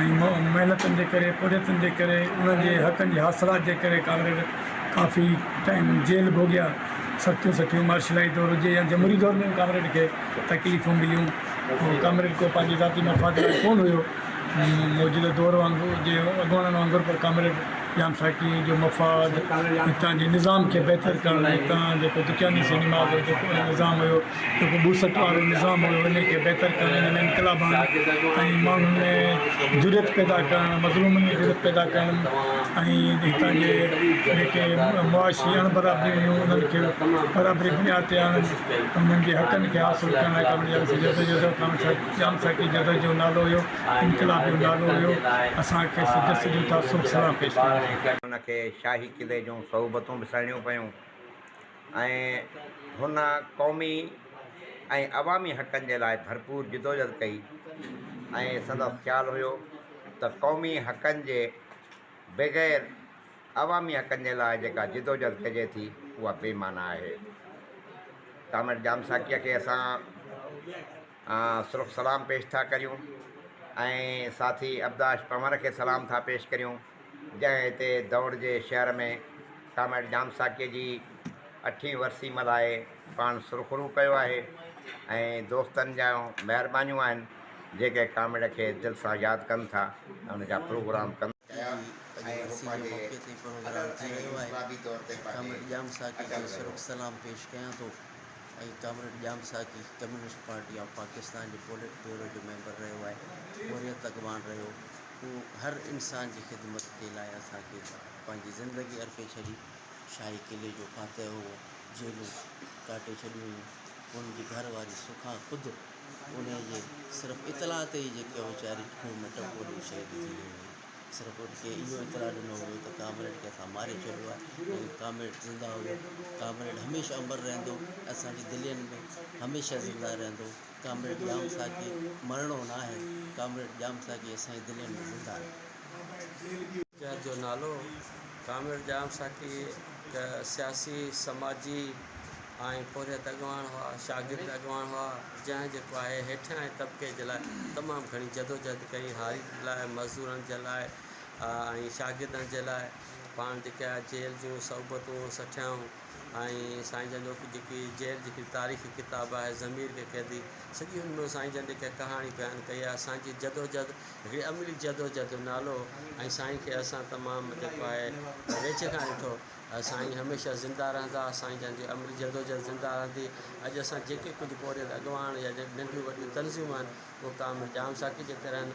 ۽ محنتن جي ڪري پورهيتن جي ڪري انهن جي حقن جي حاصلات جي ڪري ڪامريڊ ڪافي ٽائيم جيل ڀوڳيا سختيون سٺيون مارشلائي دور هجي يا جمهوري دور ۾ به ڪامريڊ کي تڪليفون مليون ۽ ڪامريڊ ڪو پنهنجي ذاتي مفاد لاء ڪونه هيو موجوده دور وانگو جي اڳواڻن وانگر پر ڪامريڊ ڄام ساقي جو مفاد هتان جي نظام کي بهتر ڪرڻ لاء هتان جيڪو دڪياني سينما هو جيڪو نظام هيو جيڪو ٻوسٽ وارو نظام هيو ان کي بهتر ڪرڻ ان ۾ انقلاب آڻڻ ۽ ماڻهن ۾ جرئت پيدا ڪرڻ مظلومن ۾ جرئت پيدا ڪرڻ ۽ هتان جي جيڪي معاشي اڻ برابريون هيون انهن کي برابري جي بنياد تي آڻڻ انهن جي حقن کي حاصل ڪرڻ لاء ڪم ڄام سائين جدوجهد جو ڪم ڄام سائين جي جدوجهد جو نالو هيو انقلاب جو نالو هيو اسان کي سڄو سڄو تعصب سلام پيش ڪندو آهي. ان کي شاهي قلعي جون صعوبتون به سهڻيون پيون. ۽ هن قومي ۽ عوامي حقن جي لاء ڀرپور جدوجھد ڪئي ۽ سندس خيال هيو ته قومي حقن جي بغير عوامي حقن جي لاء جيڪا جدوجھد ڪجي ٿي اها بي معنيٰ آهي ڪامريڊ ڄام ساقيء کي اسان سرخ سلام پيش ٿا ڪريون ۽ ساٿي ابداش پنور کي سلام ٿا پيش ڪريون جنهن هتي دؤڙ جي شهر ۾ ڪامريڊ ڄام ساقيء جي اٺين ورسي ملهائي پاڻ سرخرو ڪيو آهي ۽ دوستن جا مهربانيون آهن جيڪي ڪامريڊ کي دل سان ياد ڪن ٿا ۽ ان جا پروگرام ڪن جي اڄ ورسي جي موقعي تي پروگرام ٿي رهيو آهي ڪامريڊ ڄام ساقيء کي سرخ سلام پيش ڪيان ٿو. ۽ Comrade Jam Saqi communist party of Pakistan جي پولٽ بيورو جو ميمبر رهيو آهي، حريت اڳواڻ رهيو، هو هر انسان جي خدمت جي لاء اسان کي پنهنجي زندگي ارپي ڇڏي، شاهي قلعي جو فاتح هو، جيلون ڪاٽي ڇڏيون هيون، هن جي گهر واري سکا خود انهي جي صرف اطلاع تي ئي جيڪي ويچاري کوهه ۾ ٽپو ڏئي شهيد ٿي وئي هئي. سر ڪورٽ کي اهو اطلاع ڏنو ويو ته ڪامريڊ کي اسان ماري ڇڏيو آهي ليڪن ڪامريڊ زنده هو ڪامريڊ هميشه امر رهندو اسان جي دلين ۾ هميشه زنده رهندو ڪامريڊ ڄام ساقي مرڻو نه آهي ڪامريڊ ڄام ساقي اسان جي دلين ۾ زنده آهي. شهر جو نالو. ڪامريڊ ڄام ساقي هڪ سياسي، سماجي ۽ پورهيت اڳواڻ هئا، شاگرد اڳواڻ هئا، جنهن جيڪو آهي هيٺيائين طبقي جي لاء تمام گهڻي جدوجهد ڪئي، هاري لاء، مزدورن جي لاء ۽ شاگردن جي لاء پاڻ جيڪي آهي جيل جون صحبتون سٺيائون ۽ سائين جن جو جيڪي جيل جي تاريخي ڪتاب آهي ضمير ڪي قيدي سڄي ان ۾ سائين جن جيڪا ڪهاڻي بيان ڪئي آهي سائين جي جدوجهد هڪڙي عملي جدوجهد جو نالو ۽ سائين کي اسان تمام جيڪو آهي ويجهه کان ڏٺو سائين هميشه زنده رهندا سائين جن جي عملي جدوجهد زنده رهندي اڄ اسان جيڪي ڪجهه پورهيت اڳواڻ يا جيڪي ننڍيون وڏيون تنظيمون آهن اهي ڪامل ڄام ساقي جي ڪري آهن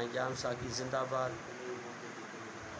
۽ ڄام ساقي زنده باد.